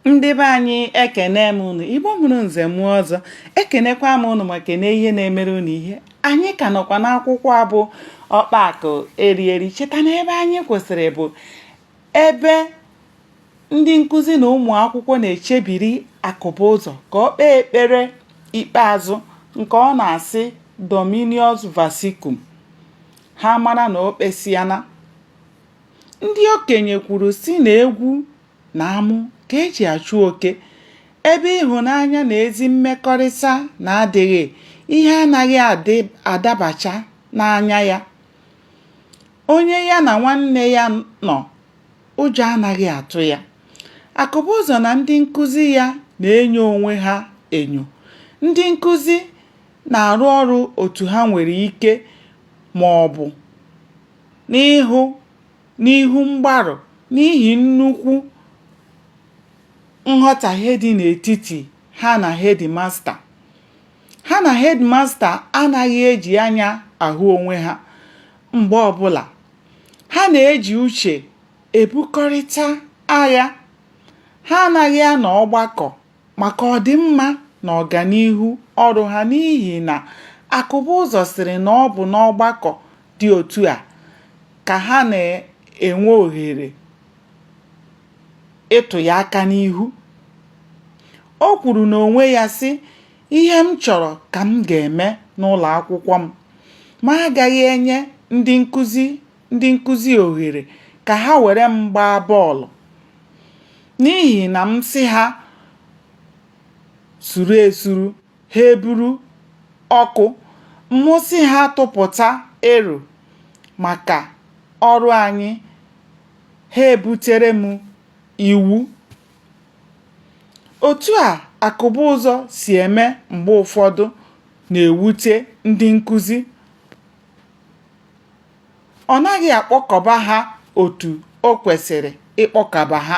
ndị be anyị ekene m unu igbo mụrụ nze mụọ ọzọ ekenekwa m unu ma kene ihe na-emere unu ihe anyị ka nọkwa n'akwụkwọ a bụ ọkpa akụ eri eri cheta na ebe anyị kwụsịrị bụ ebe ndị nkụzi na ụmụ akwụkwọ na-echebiri akụbụzọ ka o kpee ekpere ikpeazụ nke ọ na-asị dominus vobiscum ha mara na o kpesịana ndị okenye kwuru sị na egwu na amụ ka e ji achụ oke ebe ịhụnanya na ezi mmekọrịta na-adịghị ihe anaghị adabacha n'anya ya onye ya na nwanne ya nọ ụjọ anaghị atụ ya akụbụzọ na ndị nkụzi ya na-enyo onwe ha enyo ndị nkụzi na-arụ ọrụ otu ha nwere ike ma ọ bụ n'ihu n'ihu mgbarụ n'ihi nnukwu nghọtahie dị n'etiti ha na hedimasta. Ha na hedimasta anaghị eji anya ahụ onwe ha mgbe ọbụla. Ha na-eji uche ebukọrịta agha. Ha anaghị anọ ọgbakọ maka ọdịmma na ọganihu ọrụ ha n'ihi na akụbụzọ sịrị na ọ bụ n'ọgbakọ dị otu a ka ha na-enwe ohere ịtụ ya aka n'ihu o kwuru n'onwe ya sị ihe m chọrọ ka m ga-eme n'ụlọ akwụkwọ m ma agaghị enye ndị nkụzi ndị nkụzi ohere ka ha were m gbaa bọọlụ n'ihi na m sị ha suru esuru ha eburu ọkụ mụ sị ha tụpụta ero maka ọrụ anyị ha ebutere m iwu otu a akụbụzọ si eme mgbe ụfọdụ na-ewute ndị nkụzi ọ naghị akpọkọba ha otu o kwesịrị ịkpọkọba ha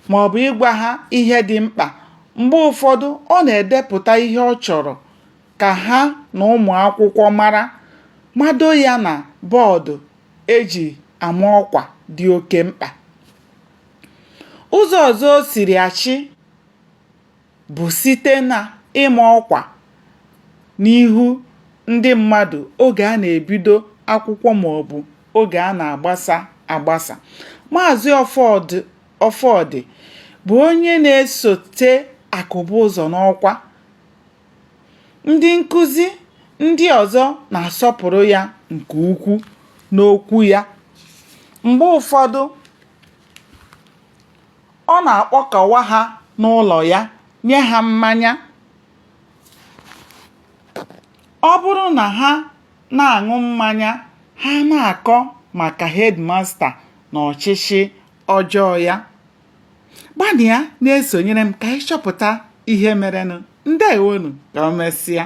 ma ọ bụ ịgwa ha ihe dị mkpa mgbe ụfọdụ ọ na-edepụta ihe ọ chọrọ ka ha na ụmụ akwụkwọ mara mado ya na bọọdụ e ji ama ọkwa dị oke mkpa ụzọ ọzọ o siri achị bụ site na ịma ọkwa n'ihu ndị mmadụ oge a na-ebido akwụkwọ maọbụ oge a na-agbasa agbasa. Maazị Ọfọdị bụ onye na-esote Akụbụzọ n'ọkwa. Ndị nkụzi ndị ọzọ na-asọpụrụ ya nke ukwu n'okwu ya. Mgbe ụfọdụ ọ na-akpọkọwa ha n'ụlọ ya nye ha mmanya ọ bụrụ na ha na-aṅụ mmanya ha na-akọ maka hedmasta na ọchịchị ọjọọ ya gbanịa na-esonyere m ka anyị chọpụta ihe merenụ ndewonu ka o mesịa